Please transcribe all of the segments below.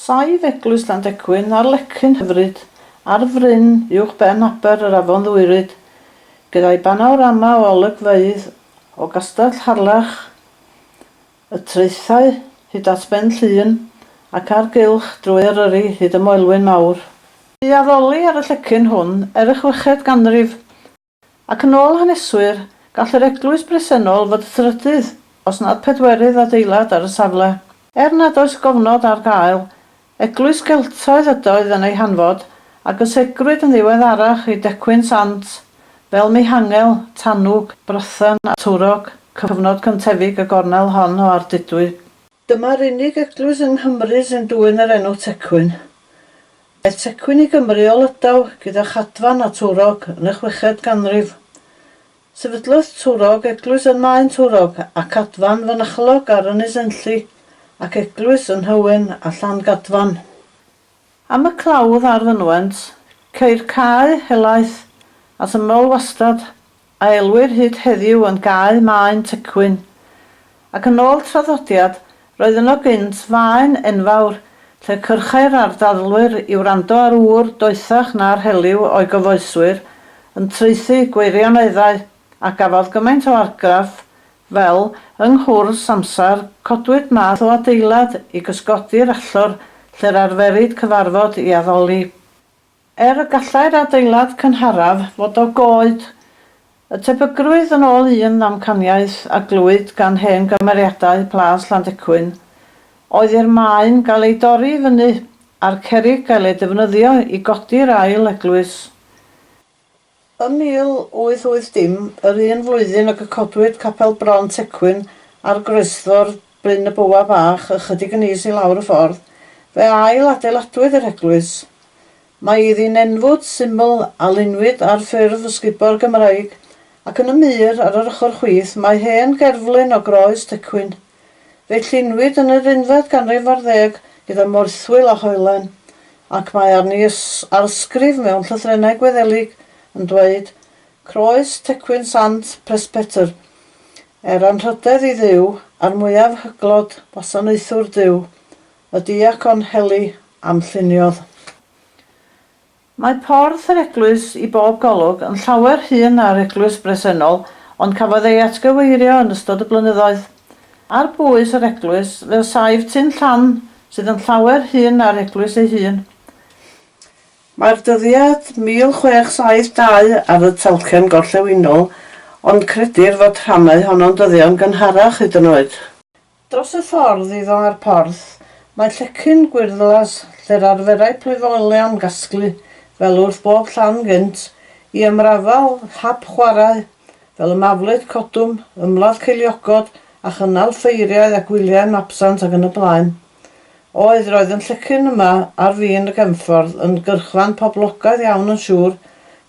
Saif eglwys Landecwyn ar lecyn hyfryd ar fryn uwch ben aber yr afon Ddwyryd, gyda'i banorama o olygfeydd o Gastell Harlech, y traethau hyd at Ben Llŷn ac ar gylch drwy Eryri hyd y Moelwyn Mawr. Bu addoli ar y llecyn hwn er y chweched ganrif Ac yn ôl haneswyr, gall yr eglwys bresennol fod trydydd, os nad pedwerydd adeilad ar y safle. Er nad oes gofnod ar gael, eglwys Geltaidd ydoedd yn ei hanfod, a gysegrwyd yn ddiweddarach i decwyn sant, fel Mihangel, Tanwg, Brythan a Twrog, cyfnod cyntefig y gornel hon o Ardudwy. Dyma'r unig eglwys yng Nghymru sy'n dwyn yr enw Tecwyn. Aeth Tecwyn i Gymru o Lydaw gyda Chadfan a Twrog yn y chweched ganrif. Sefydlodd Twrog eglwys yn Maen Twrog a Cadfan fynachlog ar Ynys Enlli, ac eglwys yn Nhywyn a Llangadfan. Am y clawdd a'r fynwent, ceir cae helaeth at ymyl wastad a elwir hyd heddiw yn Gae Maen Tecwyn, ac yn ôl traddodiad, roedd yno gynt faen enfawr lle cyrchai'r ardadlwyr i wrando ar ŵr doethach na'r heliw o'i gyfoeswyr yn traethu gweirioneddau, a gafodd gymaint o argraff fel, yng nghwrs amser, codwyd math o adeilad i gysgodi'r allor lle'r arferid cyfarfod i addoli. Er y gallai'r adeilad cynharaf fod o goed, y tebygrwydd yn ôl un ddamcaniaeth a glywyd gan hen gymeriadau Plas Llandecwyn oedd i'r maen gael ei dorri i fyny a'r cerrig gael ei defnyddio i godi'r ail eglwys. Ym 1880, yr un flwyddyn ag y codwyd Capel Bron Tecwyn ar groesffordd Bryn y Bywa Bach ychydig yn is i lawr y ffordd, fe ail-adeiladwyd yr eglwys. Mae iddi nenfwd syml a lunwyd ar ffurf ysgubor Gymraeg, ac yn y mur ar yr ochr chwith mae hen gerflun o groes Tecwyn. Fe llunwyd yn yr unfed ganrif ar ddeg gyda morthwyl a hoelan, ac mae arni arsgrif mewn llythrennau Gwyddelig yn dweud, Croes tecwyn Sant Presbytr. Er anrhydedd i Dduw, a'r mwyaf hyglod wasanaethwr Duw, y diacon Heli, am lluniodd. Mae porth yr eglwys i bob golwg yn llawer hŷn na'r eglwys bresennol ond cafodd ei atgyweirio yn ystod y blynyddoedd. Ar bwys yr eglwys fe osai'r tun llan sydd yn llawer hŷn na'r eglwys ei hun. Mae'r dyddiad 1672 ar y talcen gorllewinol ond credir fod rhannau honno'n dyddion gynharach hyd yn oed. Dros y ffordd iddo a'r porth, mae llecyn gwyrddlas lle'r arferai plwyfoelion gasglu fel wrth bob llan gynt i ymrafael hap chwarae fel y maflyd, codwm, ymladd ceiliogod a chynnal ffeiriau a gwyliau mabsant ac yn y blaen. Oedd, roedd yn llecyn yma ar fin y gefnffordd yn gyrchfan poblogaidd iawn yn siŵr,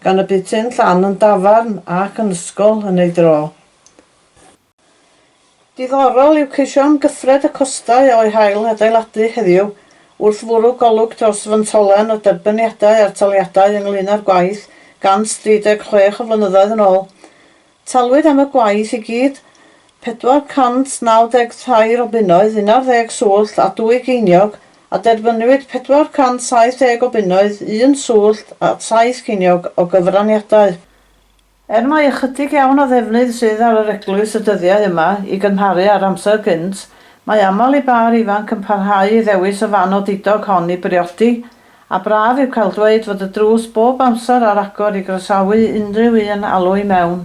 gan y bydd tun llan yn dafarn ac yn ysgol yn ei dro. Diddorol yw ceisio amgyffred y costau o'u hail adeiladu heddiw wrth fwrw golwg dros fyntolen o derbyniadau a'r taliadau ynglŷn â'r gwaith 136 o flynyddoedd yn ôl. Talwyd am y gwaith i gyd 493 o bunnoedd, unarddeg swllt a dwy geiniog, a derbyniwyd 470 o bunnoedd, un swllt a saith ceiniog o gyfraniadau. Er mai ychydig iawn o ddefnydd sydd ar yr eglwys y dyddiau yma i gymharu â'r amser gynt, mae aml i bâr ifanc yn parhau i ddewis y fan odidog hon i briodi, a braf yw cael dweud fod y drws bob amser ar agor i groesawu unrhyw un alw i mewn.